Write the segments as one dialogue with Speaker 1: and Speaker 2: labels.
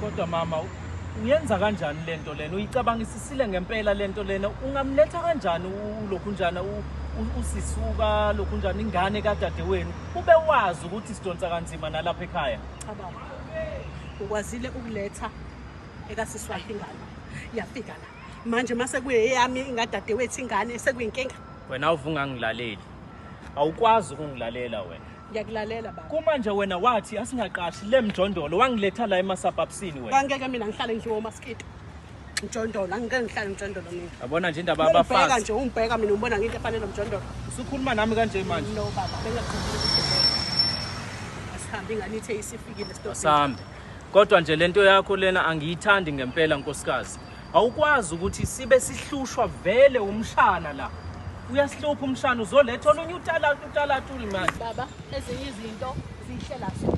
Speaker 1: kodwa mama uyenza kanjani lento lena uyicabangisisile ngempela lento lena ungamletha kanjani ulokhunjana usisuka lokhunjana ingane kadadewenu ube wazi ukuthi sidonsa kanzima nalapha ekhaya cabanga
Speaker 2: ukwazile ukuletha ekasiswakhe ingane yafika la manje uma sekuyeyami ingadadewethu ingane sekuyinkinga wena awuvungangilaleli
Speaker 1: awukwazi ukungilalela wena ngiyakulalela baba
Speaker 2: kumanje wena wathi
Speaker 1: asingaqashi le mjondolo wangiletha la emasabhabsini wena kangeke mina ngihlale ngiwo
Speaker 2: umaskito mjondolo angike ngihlale mjondolo mina yabona nje indaba yabafazibheka
Speaker 1: nje ungibheka mina
Speaker 2: ubona ngento efanele mjondolo usukhuluma nami kanje
Speaker 1: manje no baba
Speaker 2: bengahambi ngani ithe isifikile sitobasihambe kodwa
Speaker 1: nje lento yakho lena angiyithandi ngempela nkosikazi Awukwazi ukuthi sibe sihlushwa vele umshana la. Uyasihlupha umshana uzoletha olunye utalatu utalatu manje. Baba ezinye
Speaker 2: izinto zihlela so.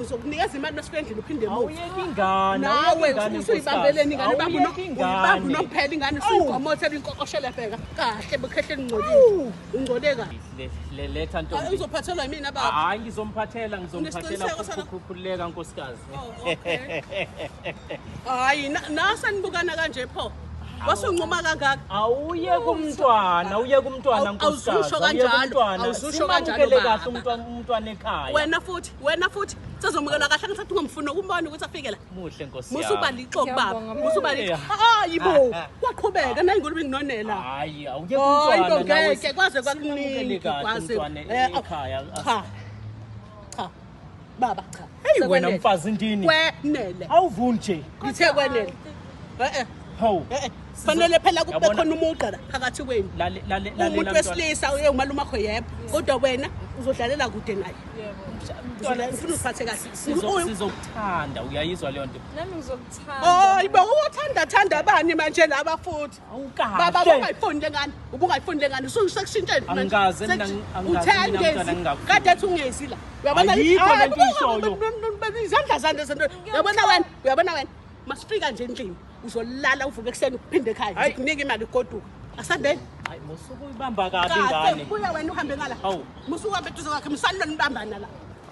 Speaker 2: uzokunikeza imali masuke endlini uphinde awuyeki ingane
Speaker 1: nawe
Speaker 2: usuyibambeleni ingane ubamba unomphela ingane usuyigomotha inkokoshele bheka kahle bukhehleni ngcolile ungcole kahle letha nto uzophathelwa
Speaker 1: yimina baba
Speaker 2: hayi ngizomphathela
Speaker 1: ngizomphathela ukukhukhuleka nkosikazi
Speaker 2: oh, hayi nasani bukana kanje pho wasunquma kangaka awuye
Speaker 1: kumntwana uye kumntwana awuzusho kanjalo
Speaker 2: simamukele kahle
Speaker 1: umntwana umntwana ekhaya wena futhi wena futhi
Speaker 2: sezomukelwa kahle ngisathi ungomfuni ukumbona ukuthi afike la muhle nkosi yami musuba
Speaker 1: lixo baba
Speaker 2: musuba lixo hayi bo waqhubeka nayi ngolube nginonela hayi awuye
Speaker 1: kumntwana ngeke kwaze
Speaker 2: kwakuningi kwaze ekhaya cha cha baba cha hey wena mfazi
Speaker 1: ndini kwenele awuvuni
Speaker 2: nje
Speaker 1: ngithe kwenele
Speaker 2: eh eh
Speaker 1: hawu eh, eh. fanele
Speaker 2: phela kube khona umugqa phakathi kwenu umuntu wesilisa uye umalume akho yebo kodwa wena uzodlalela kude naye ngifuna usiphathe kahle sizokuthanda
Speaker 1: uyayizwa leyo nto nami ngizokuthanda
Speaker 3: hayi bo
Speaker 2: uthanda thanda bani manje laba futhi baba ubungayifuni le ngane ubungayifuni le ngane sekushintsheni angikaze mina angikaze mina
Speaker 1: mntana ngingakho
Speaker 2: kade ethi ungezi la uyabona yikho
Speaker 1: le nto ishoyo izandla
Speaker 2: zande zento uyabona wena uyabona wena masifika nje endlini uzolala uvuke ekuseni uphinde ekhaya ngikunika imali goduka asandeni hayi musuku
Speaker 1: uyibamba kabi ingane buya wena uhambe ngala
Speaker 2: musuku uhambe eduze kwakhe msalilweni ubambana la